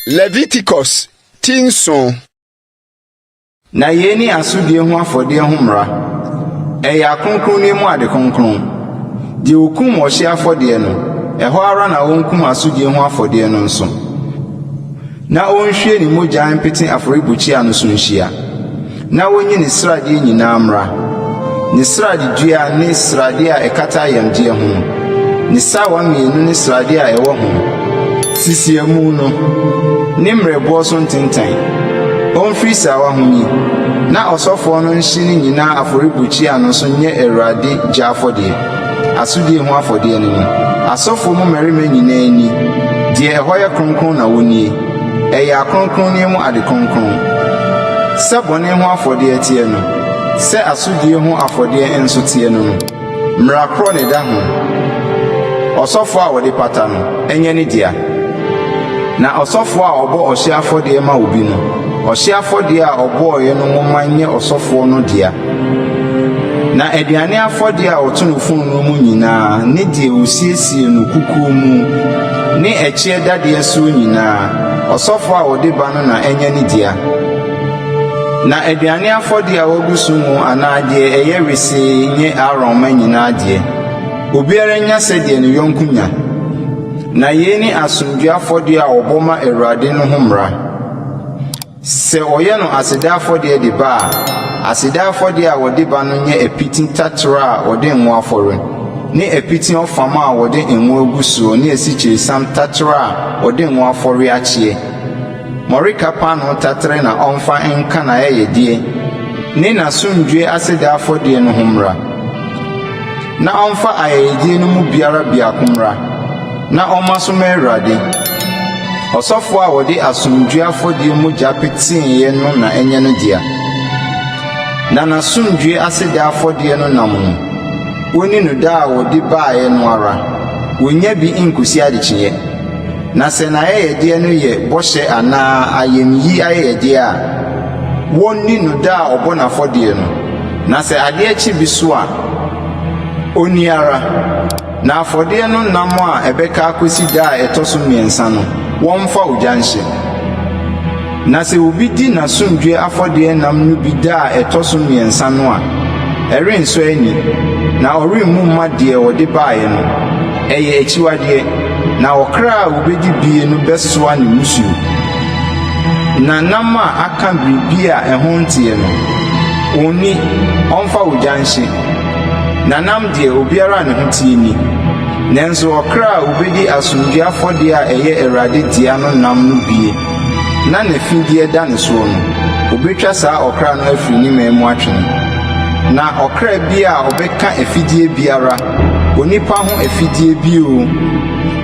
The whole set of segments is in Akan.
Leviticus ti nson. Na yei ne asodie ho afɔdeɛ ho mmara. Ɛyɛ akronkronneɛ mu ade kronkron. Deɛ ɔkum ɔhyeɛ afɔdeɛ no, ɛhɔ ara na wɔnkum asodie ho afɔdeɛ no nso. Na ɔnhwie ne mogya mpete afɔrebukyia no so nhyia, na ɔnyi ne sradeɛ nyinaa mmra, ne sradedua ne sradeɛ a ɛkata ayamdeɛ ho no, ne sawa mmienu ne sradeɛ a ɛwɔ ho, sisiamu no, ne mmerɛboɔ so ntentan. Ɔmfiri sawa ho nyi, na ɔsɔfoɔ no nhye ne nyinaa afɔrebukyia no so nyɛ Awurade gya afɔdeɛ. Asodie ho afɔdeɛ no ne. Asɔfoɔ mu mmarima nyinaa nni. Deɛ ɛhɔ yɛ kronkron na wɔnnie. Ɛyɛ akronkronneɛ mu ade kronkron. Sɛ bɔne ho afɔdeɛ teɛ no, sɛ asodie ho afɔdeɛ nso teɛ no no, mmara korɔ na ɛda ho, Ɔsɔfoɔ a ɔde pata no, ɛnyɛ ne dea. Na ɔsɔfoɔ a ɔbɔ ɔhyeɛ afɔdeɛ ma obi no, ɔhyeɛ afɔdeɛ a ɔbɔeɛ no ho ma nyɛ ɔsɔfoɔ no dea. Na aduane afɔdeɛ a wɔto no fononoo mu nyinaa ne deɛ wɔsiesie no kukuo mu ne ɛkyeɛ dadeɛ soɔ nyinaa, ɔsɔfoɔ a ɔde ba no na ɛnyɛ ne dea. Na aduane afɔdeɛ a wɔgu so ngo anaa deɛ ɛyɛ wesee nyɛ Aaron mma nyinaa deɛ. Obiara nnya sɛdeɛ ne yɔnko nya. Na yei ne asomdwoeɛ afɔdeɛ a wɔbɔ ma Awurade no ho mmara. Sɛ wɔyɛ no aseda afɔdeɛ de ba a, aseda afɔdeɛ a wɔde ba no nyɛ apiti taterɛ a wɔde ngo afɔre, ne apiti ɔfam a wɔde ngo agu soɔ ne asikyiresiam taterɛ a wɔde ngo afɔre akyeɛ. Mmɔreka paanoo taterɛ na ɔmfa nka n'ayɛyɛdeɛ ne n'asomdwoeɛ aseda afɔdeɛ no ho mmara. Na ɔmfa ayɛyɛdeɛ no mu biara biako mmra, na ɔmma so mma Awurade. Ɔsɔfoɔ a ɔde asomdwoeɛ afɔdeɛ mogya peteeɛ no na ɛnyɛ ne dea, na n'asomdwoeɛ aseda afɔdeɛ no nam no, wɔnni no da a wɔde baeɛ no ara, wɔnnya bi nkɔsi adekyeeɛ. Na sɛ n'ayɛyɛdeɛ no yɛ bɔhyɛ anaa ayamyi ayɛyɛdeɛ a, wɔnni no da a ɔbɔ n'afɔdeɛ no. Na sɛ adeɛ kye bi so a, ɔnni ara. Na afɔdeɛ no nam a ɛbɛka akɔsi da a ɛtɔ so mmiɛnsa no, wɔmfa ogya nhye. Na sɛ obi di n'asomdwoeɛ afɔdeɛ nam no bi da a ɛtɔ so mmiɛnsa no a, ɛrensɔ ani, na ɔremmu mma deɛ ɔde baeɛ no. Ɛyɛ akyiwadeɛ, na ɔkra a ɔbɛdi bie no bɛsoa ne mmusuo. Na nam a aka biribi a ɛho nteɛ no, onni, ɔmfa ogya nhye. Na nam deɛ, obiara a ne ho teɛ nni. Nanso ɔkra a ɔbɛdi asomdwoeɛ afɔdeɛ a ɛyɛ Awurade dea no nam no bie, na n'afideɛ da ne soɔ no, wɔbɛtwa saa ɔkra no afiri ne mmaa mu atwe no. Na ɔkra biara a ɔbɛka afideɛ biara, onipa ho afideɛ bi oo,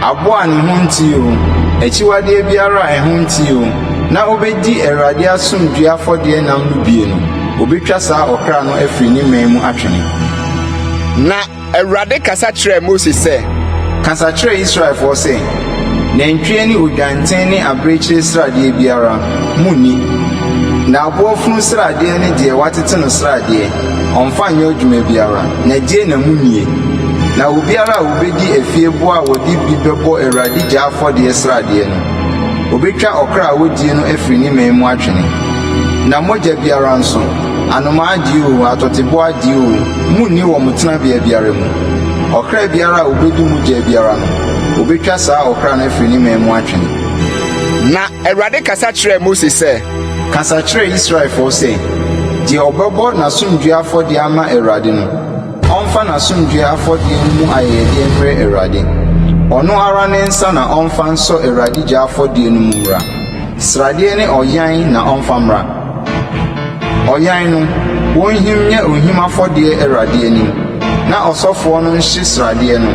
Aboa a ne ho nteɛ oo, akyiwadeɛ biara a ɛho nteɛ oo, na ɔbɛdi Awurade asomdwoeɛ afɔdeɛ nam no bie no, wɔbɛtwa saa ɔkra no afiri ne mman mu atwene. Na Awurade kasa kyerɛɛ Mose sɛ. Kasa kyerɛ Israelfoɔ sɛ, 'Nantwie ne odwanten ne abirekyie sradeɛ biara, monni. Na aboa funu sradeɛ ne deɛ wɔatete no sradeɛ, Ɔmfa nyɛ adwuma biara, na gye na mu nnie. Na obiara a ɔbɛdi afieboɔ a wɔde bi bɛbɔ Awurade gya afɔdeɛ sradeɛ no, wɔbɛtwa ɔkra a ɔdie no afiri ne mɛn mu atwene. Na mogya biara nso, anomaa adie oo, atɔteboa adie oo, monni wɔ mo tenabea biara mu. Ɔkra biara a ɔbɛdi mogya biara no, wɔbɛtwa saa ɔkra no afiri ne mɛn mu atwene. Na Awurade kasa kyerɛɛ Mose sɛ. Kasa kyerɛ Israelfoɔ sɛ, 'Deɛ ɔbɛbɔ n'asomdwoeɛ afɔdeɛ ama Awurade no, ɔmfa n'asomdwoeɛ afɔdeɛ no mu ayɛyɛdeɛ mmrɛ Awurade. Ɔno ara ne nsa na ɔmfa nsɔ Awurade gya afɔdeɛ no mu mmra. Sradeɛ ne ɔyan na ɔmfa mmra. Ɔyan no, wɔnhim nyɛ ohim afɔdeɛ Awurade anim, na ɔsɔfoɔ no nhye sradeɛ no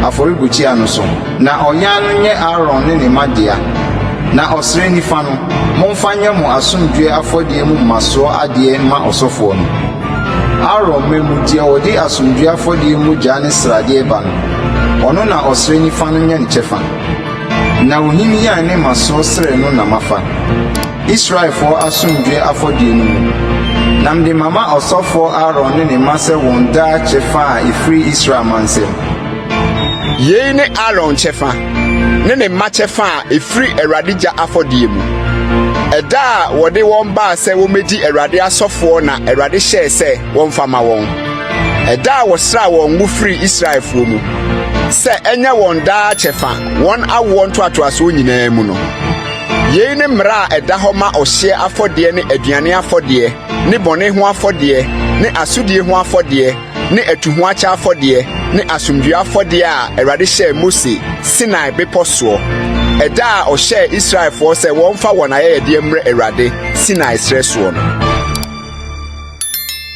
afɔrebukyia no so. Na ɔnyan no nyɛ Aaron ne ne mma dea, na ɔsere nifa no, momfa nyɛ mo asomdwoeɛ afɔdeɛ mu mmasoɔ adeɛ mma ɔsɔfoɔ no. Aaron mma mu deɛ ɔde asomdwoeɛ afɔdeɛ mogya ne sradeɛ ba no, ɔno na ɔsere nifa no nyɛ ne kyɛfa, na ohim yan ne mmasoɔ srɛ no na mafa Israelfoɔ asomdwoeɛ afɔdeɛ no mu, na mede mama ɔsɔfoɔ Aaron ne ne mma sɛ wɔn daa kyɛfa a ɛfiri Israel mansɛm. Yei ne Aaron kyɛfa ne ne mma kyɛfa a ɛfiri Awurade gya afɔdeɛ mu. Ɛda a wɔde wɔn baa sɛ wɔmmɛdi Awurade asɔfoɔ na Awurade hyɛɛ sɛ wɔmfa ma wɔn. Ɛda a wɔsraa wɔn ngo firi Israelfoɔ mu sɛ ɛnyɛ wɔn daa kyɛfa wɔn awoɔ ntoatoasoɔ nyinaa mu no. Yei ne mmara a ɛda hɔ ma ɔhyeɛ afɔdeɛ ne aduane afɔdeɛ ne bɔne ho afɔdeɛ ne asodie ho afɔdeɛ ne atuhoakyɛ afɔdeɛ ne asomdwoeɛ afɔdeɛ a Awurade hyɛɛ Mose Sinai Bepɔ soɔ, ɛda a ɔhyɛɛ Israelfoɔ sɛ wɔmfa wɔn ayɛyɛdeɛ mmrɛ Awurade Sinai serɛ soɔ no.